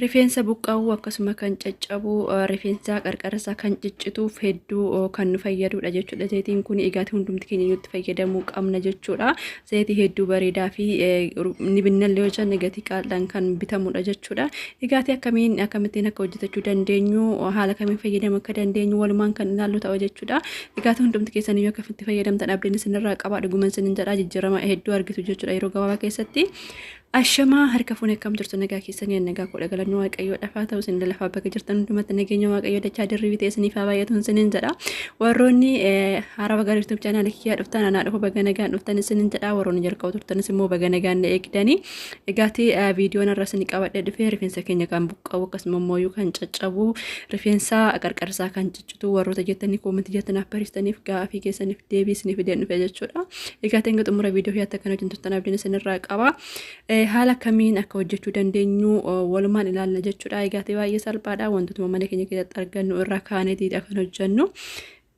Rifeensa buqqa'uu akkasuma kan caccabu rifeensa qarqarasa kan ciccituuf hedduu kan nu fayyadudha jechuudha. Zayitiin kun egaati hundumti keenya itti fayyadamuu qabna jechuudha. Zayitii hedduu bareedaa fi ni binnallee yoo jenne gatii qaal'aan kan bitamudha jechuudha. Egaati akkamiin akkamittiin akka hojjetachuu dandeenyu haala kamiin fayyadamuu akka dandeenyu walumaan kan ilaallu ta'a jechuudha. Egaati hundumti keessan yoo akkamitti fayyadamtan abdiin isinirraa qabaa dhuguman isinin jedhaa jijjiirama hedduu argitu jechuudha yeroo gabaabaa keessatti. Ashamaa harka fuune akkam jirtu nagaa keessanii an nagaa koodha galanni waaqayyoo dhafaa ta'u isin lafaa bakka jirtan hundumatti nageenya waaqayyoo dachaa dirribii ta'e isiniif haa baay'atu isiniin jedha warroonni haarawa gara yuutuub chaanaal kiyyaa dhuftan anaa dhufu baga nagaan dhuftan isiniin jedha warroonni jalqaba turtanis immoo baga nagaan na eegdanii egaati viidiyoon irra isin qabadhe dhufee rifeensa keenya kan buqqa'u akkasuma immoo kan caccabu rifeensa qarqarsaa kan cituu warroota jettanii koomantii jala naaf barreessitaniif gaafii keessaniif deebii isiniif fideen dhufe jechuudha. Egaa ta'in xumura viidiyoo fi akkan hojjetan turtan abdiin isinirraa qaba. Haala kamiin akka hojjechuu dandeenyu walumaan ilaalna jechuudha. Egaa ta'e baay'ee salphaadha wantootuma mana keenya keessatti argannu irraa kaaneeti kan hojjennu.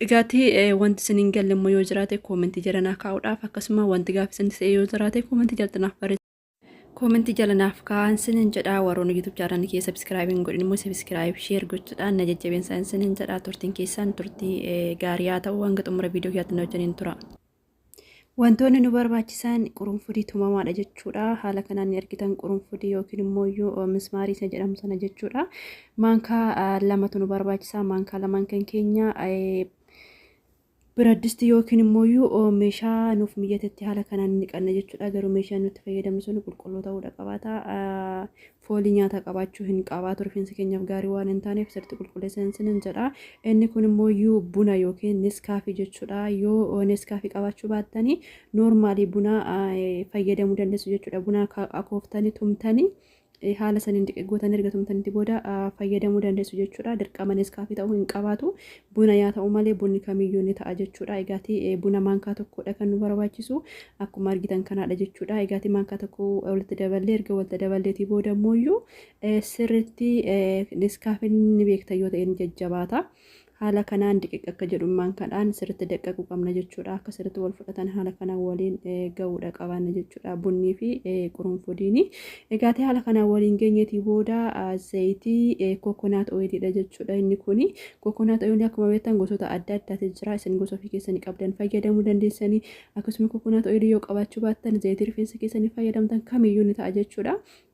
Egaati wanti isin hin galle immoo yoo jiraate koomantii jala naa kaa'uudhaaf akkasuma wanti gaafii isin ta'e yoo jiraate koomantii jala naaf barreessaa. Koomentii jala naaf kaa'an sinin jedhaa warroonni YouTube channel kee subscribe hin godhin immoo subscribe share gochuudhaan na jajjabeessaa sinin jedhaa turtiin keessan turtii gaarii haa ta'u hanga xumura viidiyoo kiyyaatti na wajjiniin tura. Wantoonni nu barbaachisan qurunfudii tumamaadha jechuudha. Haala kanaan ni argitan qurunfudii yookiin immoo iyyuu mismaarii isa jedhamu sana jechuudha. Maankaa lamatu nu barbaachisa. Maankaa lamaan kan keenya Biraddisti yookiin immooyyuu meeshaa nuuf mijatetti haala kanaan hin dhiqanna jechuudha. Garuu meeshaan nutti fayyadamnu sun qulqulluu ta'uudha qabaata. Foolii nyaataa qabaachuu hin qabaatu rifeensa keenyaaf gaarii waan hin taaneef sirriitti qulqulleessaa hin sinin jedha. Inni kun immooyyuu buna yookiin neskaafii jechuudha. Yoo neskaafii qabaachuu baattanii noormaalii buna fayyadamuu dandeessu jechuudha. Buna akooftanii tumtanii haala saniin xiqqe gootan erga tumtanitti booda fayyadamuu dandeessu jechuudha. Dirqama Neskaafii ta'uu hin qabaatu. Buna yaa ta'u malee bunni kamiyyuu ni ta'a jechuudha. Egaati buna maankaa tokkodha kan nu barbaachisu. Akkuma argitan kanaadha jechuudha. Egaati maankaa tokko walitti daballee erga walitti daballeetii booda immoo sirriitti Neskaafin ni beektan yoo ta'e ni jajjabaata. Haala kanaan diqiq akka jedhummaan kadhaan sirritti daqqaquu qabna jechuudha. Akka sirritti wal fudhatan haala kanaan waliin ga'uudha qabaanna jechuudha. Bunnii fi qurunfudiini. Egaatee haala kanaan waliin geenyeetii booda zayitii kokonaat ooyiliidha jechuudha. Inni kuni kokonaat ooyilii akkuma beektan gosoota adda addaati jira. Isin gosa ofii keessanii qabdan fayyadamuu dandeessanii. Akkasuma kokonaat ooyilii yoo qabaachuu baattan zayitii rifeensa keessanii fayyadamtan kamiyyuu ni ta'a jechuudha.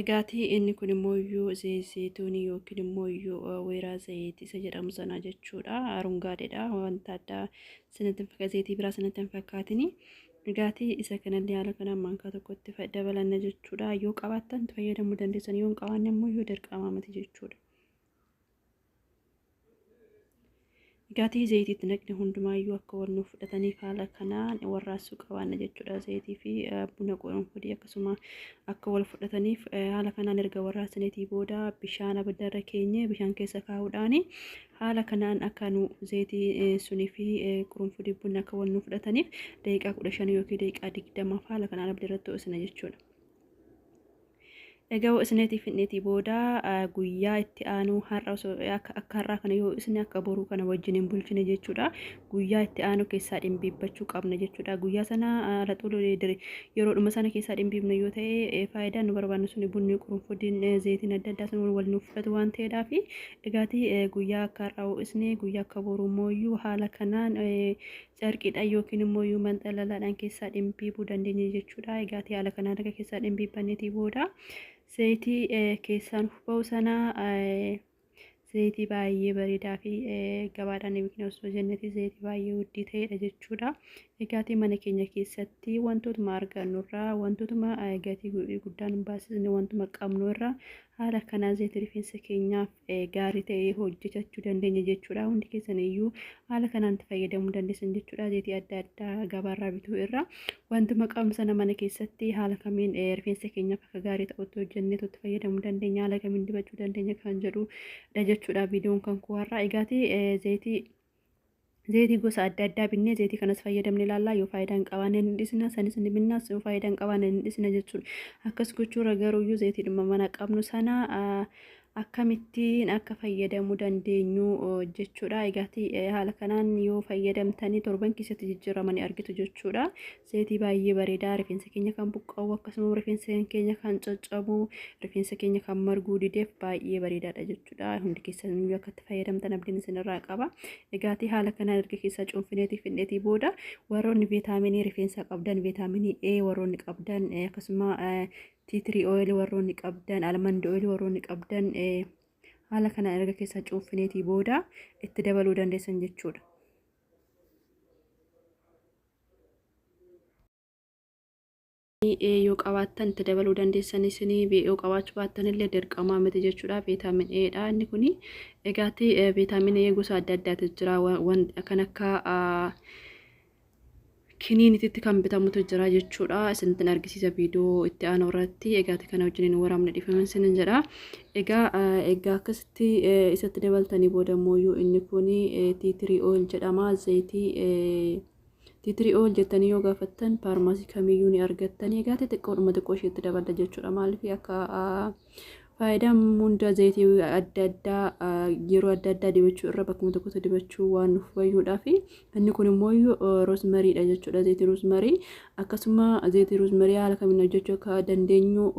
Egaati inni kun immoo iyyuu zeeyituunii yookiin immoo iyyuu weeraa zayiit isa jedhamu sana jechuudha. Arungaadheedha wanta addaa sanatti hin fakkaatu zayitii biraa sanatti hin fakkaatini. Egaati isa kanallee haala kanaan maankaa tokkotti fa- dabalanna jechuudha. Yoo qabaattan itti fayyadamuu dandeessan yoo hin qabaanne immoo iyyuu dirqama miti jechuudha. Gatii zayitii itti naqne hundumaayyuu akka wal nuuf fudhataniif haala kanaan warraassuu qabaanna jechuudha. Zayitii fi buna qurunfudii akkasuma akka wal fudhataniif haala kanaan erga warraassaniitii booda bishaan abiddarra keenye bishaan keessa kaa'uudhaan haala kanaan akka nu zayitii sunii fi qurunfudii bunni akka wal nuuf fudhataniif daqiiqaa kudha shan yookiin daqiiqaa digdamaaf haala kanaan abiddarratti ho'isna jechuudha. Egaa yoo isinitii fidnetii booda guyyaa itti aanuu har'a osoo akka akka har'aa kana yoo isin akka boruu kana wajjin hin bulchine jechuudha. Guyyaa itti aanuu keessaa dhimbiibbachuu qabna jechuudha. Guyyaa sana laxuul yeroodhuma sana keessaa dhimbiibna yoo ta'e faayidaan nu barbaannu suni bunni qurunfudiin zeetiin adda addaa sun wal nuuf fudhatu waan ta'eedhaa fi egaati guyyaa akka har'aa ho'isne guyyaa akka boruu mooyyuu haala kanaan carqiidhaan yookiin immoo yuuman xalalaadhaan keessaa dhimbiibuu dandeenya jechuudha. Egaa haala kanaan erga keessaa dhimbiibbanneetii booda zayitii keessaan ba'u sana zayitii baay'ee bareedaa fi gabaadhaan yookiin osoo jenneeti zayitii baay'ee guddii ta'edha jechuudha. Egaatii mana keenya keessatti wantootuma argannurraa wantootuma gatii guddaan hin baasisne wantuma qabnu irraa haala kanaan zayitii rifeensa keenyaaf gaarii ta'ee hojjechachuu dandeenya jechuudha. Hundi keessan iyyuu haala kanaan itti fayyadamuu dandeessan jechuudha. Zeetii adda addaa gabaarraa bituu irra wantuma qabnu sana mana keessatti haala kamiin rifeensa keenyaaf akka gaarii ta'utti hojjennee itti fayyadamuu dandeenya haala kamiin dibachuu dandeenya kan jedhudha jechuudha viidiyoon kan koo har'aa. Egaati zeetii Zeetii gosa adda addaa binnee zeetii kanas fayyadamne ilaallaa yoo faayidaa hin qabaanne ni dhisna sanis ni binnaa yoo faayidaa hin qabaanne ni dhisna jechuudha. Akkas gochuurra garuuyyuu zeetiidhuma mana qabnu sana akkamittiin akka fayyadamuu dandeenyu jechuudha. Egaati haala kanaan yoo fayyadamtanii torban keessatti jijjiirama ni argitu jechuudha. Zayitii baay'ee bareedaa rifeensa keenya kan buqqa'u akkasuma rifeensa keenya kan caccabu rifeensa keenya kan marguu dideef baay'ee bareedaadha jechuudha. Hundi keessan iyyuu akka itti fayyadamtan abdiin isinirraa qaba. Dhugaatii haala kanaan erga keessaa cuunfineetii fidneetii booda warroonni viitaaminii rifeensaa qabdan viitaaminii A warroonni qabdan eh, akkasuma eh, tiitirii ooyilii warroonni qabdan almandi ooyilii warroonni qabdan eh, haala kanaan erga keessaa cuunfineetii booda itti dabaluu dandeessan jechuudha. yoo qabaattan itti dabaluu dandeessan isinii yoo qabaachuu baattan illee dirqamaa miti jechuudha viitaamin A dha inni kuni egaati viitaamin A gosa adda addaatu jira waan kan akka kiniinititti kan bitamutu jira jechuudha isinittin argisiisa viidiyoo itti aanu irratti egaati kana wajjiniin waraabne dhifaman sinin jedha egaa egaa akkasitti tti isatti dabaltanii booda immoo yoo inni kun tea tree oil jedhama zayitii tea tree oil jettanii yoo gaafattan faarmaasii kamiyyuu ni argattan egaa xixiqqoodhuma xiqqoo isheetti daballa jechuudha maaliif akka faayidaan hunda zayitii adda addaa yeroo adda addaa dibachuu irra bakkuma tokkotti dibachuu waan nuuf fayyuudhaa fi inni kun immoo roosmariidha jechuudha zayitii roosmarii akkasuma zayitii roosmarii haala kamiin hojjechuu akka dandeenyu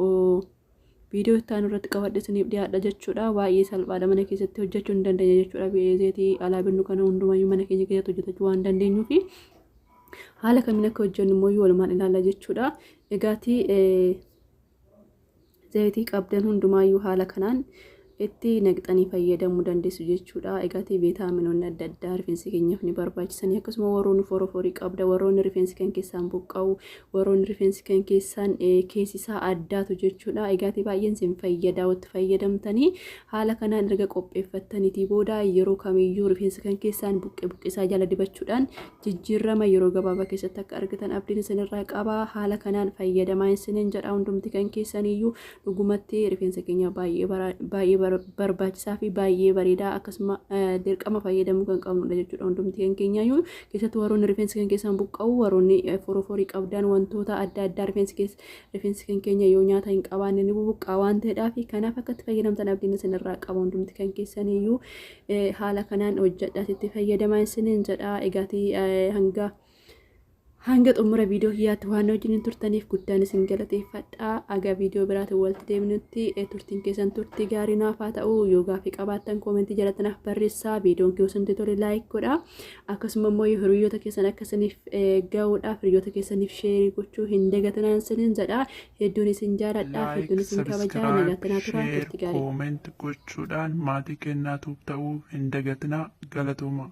Viidiyoo itti aanu irratti qabadhe isiniif dhiyaadha jechuudha. Baay'ee salphaadha mana keessatti hojjechuu ni dandeenya jechuudha. Zeetii alaa binnu kana hundumayyuu mana keenya keessatti hojjetachuu waan dandeenyuu fi haala kamiin akka hojjennu immoo walumaan ilaalla jechuudha. Egaatii zeetii qabdan hundumaayyuu haala kanaan itti naqxanii fayyadamu dandeessu jechuudha. Egaati veetaaminoonni adda addaa rifeensi keenyaaf ni barbaachisanii akkasuma warroonni foroforii qabda warroonni rifeensi kan keessaan buqqa'u warroonni rifeensi kan keessaan keessisaa addaatu jechuudha. Egaati baay'een isin fayyadaa watti fayyadamtanii haala kanaan erga qopheeffattaniitii booda yeroo kamiyyuu rifeensa kan keessaan buqqee buqqeesaa jala dibachuudhaan jijjiirrama yeroo gabaabaa keessatti akka argatan abdiin isinirraa qaba. Haala kanaan fayyadamaa isiniin jedha hundumti kan keessaniyyuu dhugumatti rifeensa keenya baay'ee bara- baay'ee bar- barbaachisaa fi baay'ee bareedaa akkasuma eh, dirqama fayyadamuu kan qabnudha jechuudha hundumti kan keenyaayyuu keessattuu warroonni rifeensi kan keessaan buqqa'u warroonni eh, foroforii qabdan wantoota adda addaa rifeensi keessa rifeensi kan keenya yoo nyaata hin qabaanne ni bubuqqaa waan ta'eedhaa fi kanaaf akkatti fayyadamtan abdiin isinirraa qaba hundumti kan keessaniyyuu eh, haala kanaan hojjedhaas itti fayyadamaa isiniin jedha egaatii eh, hanga Hanga xumura viidiyoo kiyyaatti waan wajjin turtaniif guddaan isin galateeffadha. Aga viidiyoo biraatiin walitti deebinutti turtiin keessan turtii gaarii naaf haa ta'u. Yoo gaaffii qabaattan koomentii jalatti naaf barreessaa. Viidiyoon kiyya osoo isin tole laayik godha. Akkasuma immoo yoo hiriyoota keessan akka isiniif ga'uudhaaf hiriyoota keessaniif sheerii gochuu hin dagatinaan isiniin jedha. Hedduun isin jaaladha. Hedduun isin kabajaa. Nagaatti naa turaa. Turtii gaarii. Kooment gochuudhaan maatii keenyaa ta'uu hin dagatinaa. Galatooma.